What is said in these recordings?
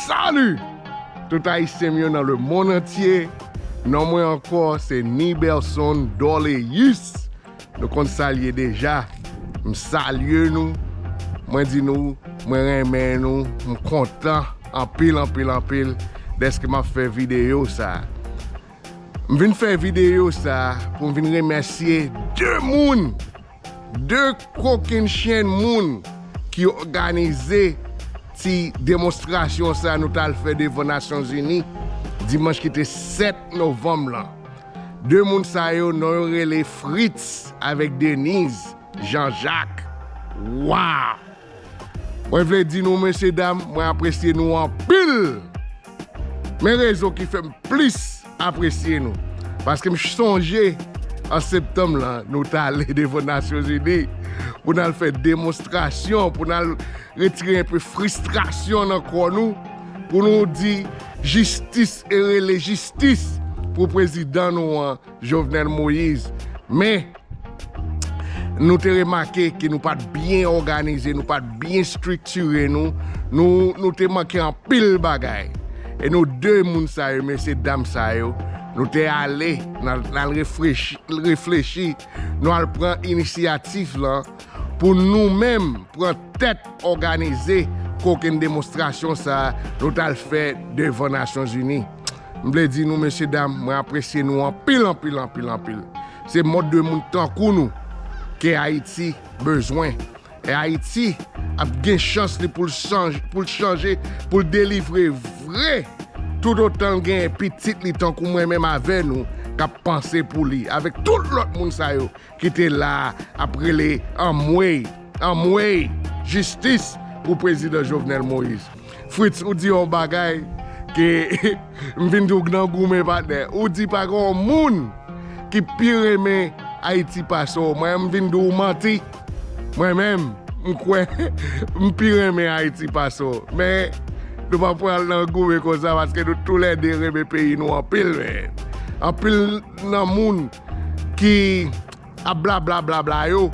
Salut tout ayisyen m yo nan le mond antye non mwen ankò se Niberson Dorleus nou konn sal ye deja m salye nou mwen di nou mwen renmen nou m kontan anpil anpil anpil deske map fè video sa M vin fè video sa pou m vin remèsye 2 moun, 2 kokenn chen moun ki òganize ti demonstrasyon sa nou t al fè devan Nasyon Zini dimanch ki te 7 novanm lan. 2 moun sa yo non yo rele Fritz avèk Deniz, Jean Jacques. Waww! Mwen vle di nou mesye dam mwen apresye nou anpil men rezon ki fèm plis apresye nou paske m sonje an septanm lan nou t ale devan nasyonzini pou n al fè demonstrasyon pou n al retire enpe fristrasyon nan kò nou pou nou di jistis e rele jistis pou prezidan nou an Jovenel Moise men Nou te remake ke nou pat byen òganize, nou pat byen striktire nou, nou te manke anpil bagay. E nou 2 moun sa yo, mesye dam sa yo, nou te ale, nou al reflechi, nou al pran inisyatif lan pou nou menm pran tèt òganize kokenn demonstrasyon sa nou t al fè devan Nasyonzini. M vle di nou mesye dam mwen apresye nou anpil anpil anpil anpil se mòd de moun tankou nou ke ayiti bezwen e ayiti ap gen chans li poul chanj poul chanje poul delivre vre tout otanl gen pitit li tankou mwen menm avè nou kap panse pou li avèk tout lòt moun sa yo ki te la ap rele anmweyy anmweyy jistis pou prezidan Jovenel Moïse Fritz ou di yon bagay ke m vin di w nan goumen patnè ou di pa gen yon moun ki pi renmen Ayiti pase w mwen m vin di w manti mwen menm m kwè m pi renmen Ayiti pase w men nou pa pral nan goumen konsa paske nou tou lè 2 renmen peyi nou anpil men anpil nan moun. ki ap blabla blabla yo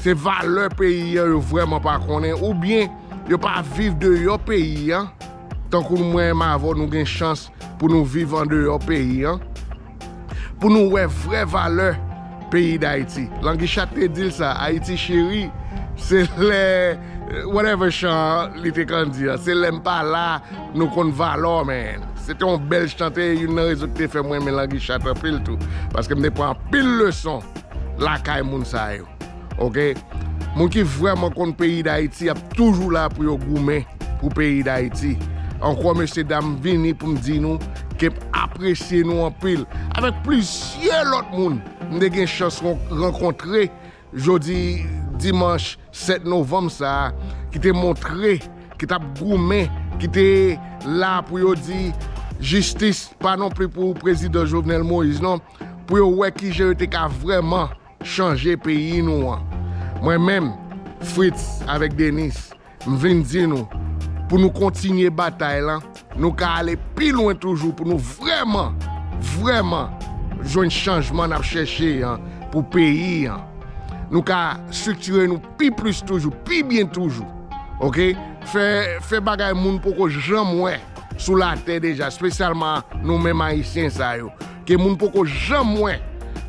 se valè peyi an yo vrèman pa konnen oubyen yo pa viv deyò peyi an tankou mwen m avè w nou gen chans pou nou viv andeyò peyi an pou nou wè vrè valè peyi Dayiti Languichatte te di l sa Ayiti cheri se lè whatever chan li te konn di an se lè m pa la. Nou konn valè w man. Se te yon bèl chante e youn nan rezon ki te fè m renmen Languichatte anpil tou. Paske m te pran anpil leson lakay moun sa yo. Ok. Moun ki vrèman konn peyi Dayiti ap toujou la pou yo goumen pou peyi Dayiti. Ankò mesye dam m vini pou m di nou ke m apresye nou anpil. Avèk plizyè lòt moun m te gen chans rankontre Jodi dimanch 7 novanm sa a ki te montre ki t ap goumen, ki te la pou yo di jistis pa non pli pou prezidan Jovenel Moïse non, pou yo wè ki jan yo te ka vrèman chanje peyi nou an. Mwen menm, Fritz avèk Dennis, M vin di nou, pou nou kontinye batay lan, nou ka ale pi lwen toujou pou nou vrèman, vrèman jwenn chanjman n ap chèche an pou peyi an. Nou ka striktire nou pi plis toujou, pi byen toujou. Oke, fè, fè bagay moun poko janm wè sou latè deja, spesyalman nou menm Ayisyen sa yo. Gen moun poko janm wè.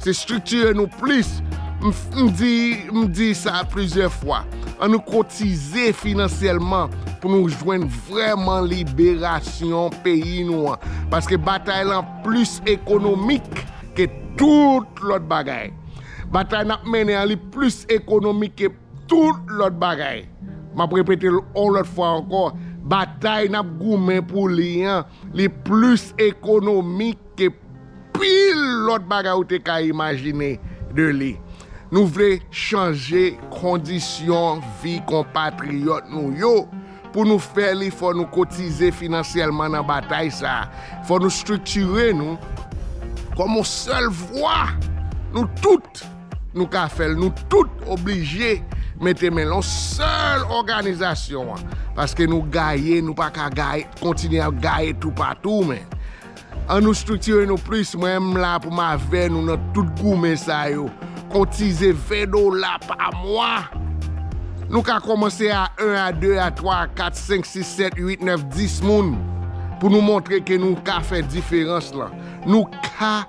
Se striktire nou plis. M di, m di sa plizyè fwa. An nou kotize finansyèlman pou nou jwenn vrèman liberasyon peyi nou an. Paske batay lan plis ekonomik ke tout lòt bagay. Batay n ap mennen an li plis ekonomik ke tout lòt bagay. M ap repete l on lòt fwa ankò, batay n ap goumen pou li an. Li plis ekonomik ke pil lòt bagay ou te ka imajine de li. Nou vle chanje kondisyon vi konpatriyòt nou yo. Pou nou fè li, fò nou kotize finansyèlman nan batay sa a. Fò nou striktire nou kòm yon sèl vwa, nou tout. Nou ka fèl nou tout oblije mete men lon sèl òganizasyon an paske nou gaye nou pa ka gaye kontinye ap gaye tou patou men an nou striktire nou plis mwen m la pou m avè nou nan tout goumen sa yo kontize 20 dola pa mwa nou ka kòmanse a 1 a 2 a 3 a 4 5 6 7 8 9 10 moun pou nou montre ke nou ka fè diferans lan nou ka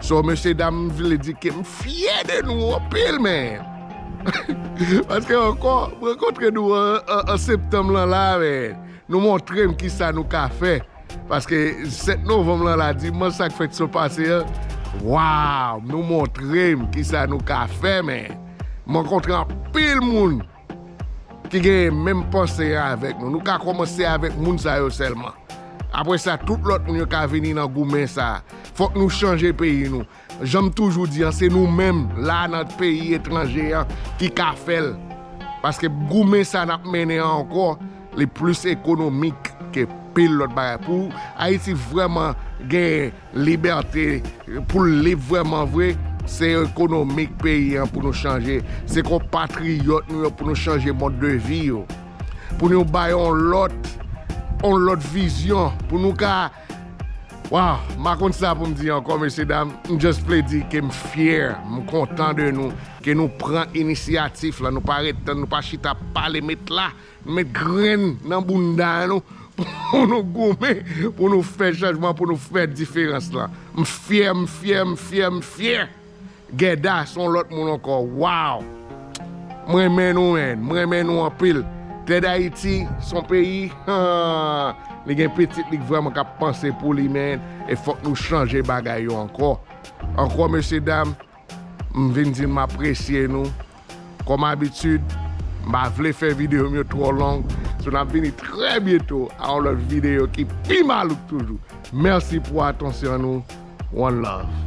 So mesye dam m vle di ke m fyè de nou anpil men paske ankò m rankontre nou an septanm lan la men nou montre m kisa nou ka fè paske 7 novanm lan la dimanch sa k fèt so pase an waw nou montre m kisa nou ka fè men m rankontre anpil moun. Ki genyen menm panse an avèk nou. Nou ka kòmanse avèk moun sa yo sèlman. Apre sa, tout lòt moun yo ka vini nan goumen sa a. Fòk nou chanje peyi nou. Jan m toujou di an, se nou menm, la a nan peyi etranje an, ki ka fè l. Paske goumen sa a n ap mennen an ankò, li plis ekonomik ke pil lòt bagay. Pou Ayiti vrèman gen. Libète pou l lib vrèman vre, se ekonomik peyi an pou nou chanje, se konpatriyòt nou yo pou nou chanje mòd de vi yo, pou nou ba yo yon lòt, yon lòt vizyon, pou nou ka Waww, m pa konn sa pou m di ankò mesye dam, m just vle di ke m fyè, m kontan de nou, ke nou pran inisyatif la, nou pa ret tann, nou pa chita pale met la. Met grenn nan bounda nou pou nou goumen pou nou fè chanjman pou nou fè diferans lan m fyè m fyè m fyè m fyè Guedda son lòt moun ankò waww m renmen nou man m renmen nou anpil tè dayiti son peyi hahahah li gen pitit li k vrèman kap panse pou li man e fòk nou chanje bagay yo ankò ankò mesye dam. M vin di m apresye nou. Kòm abitid, m pa vle fè videyo m yo twò long, so n ap vini trè byento a yon lòt videyo ki pi malouk toujou. Mèsi pou atansyon nou. One love.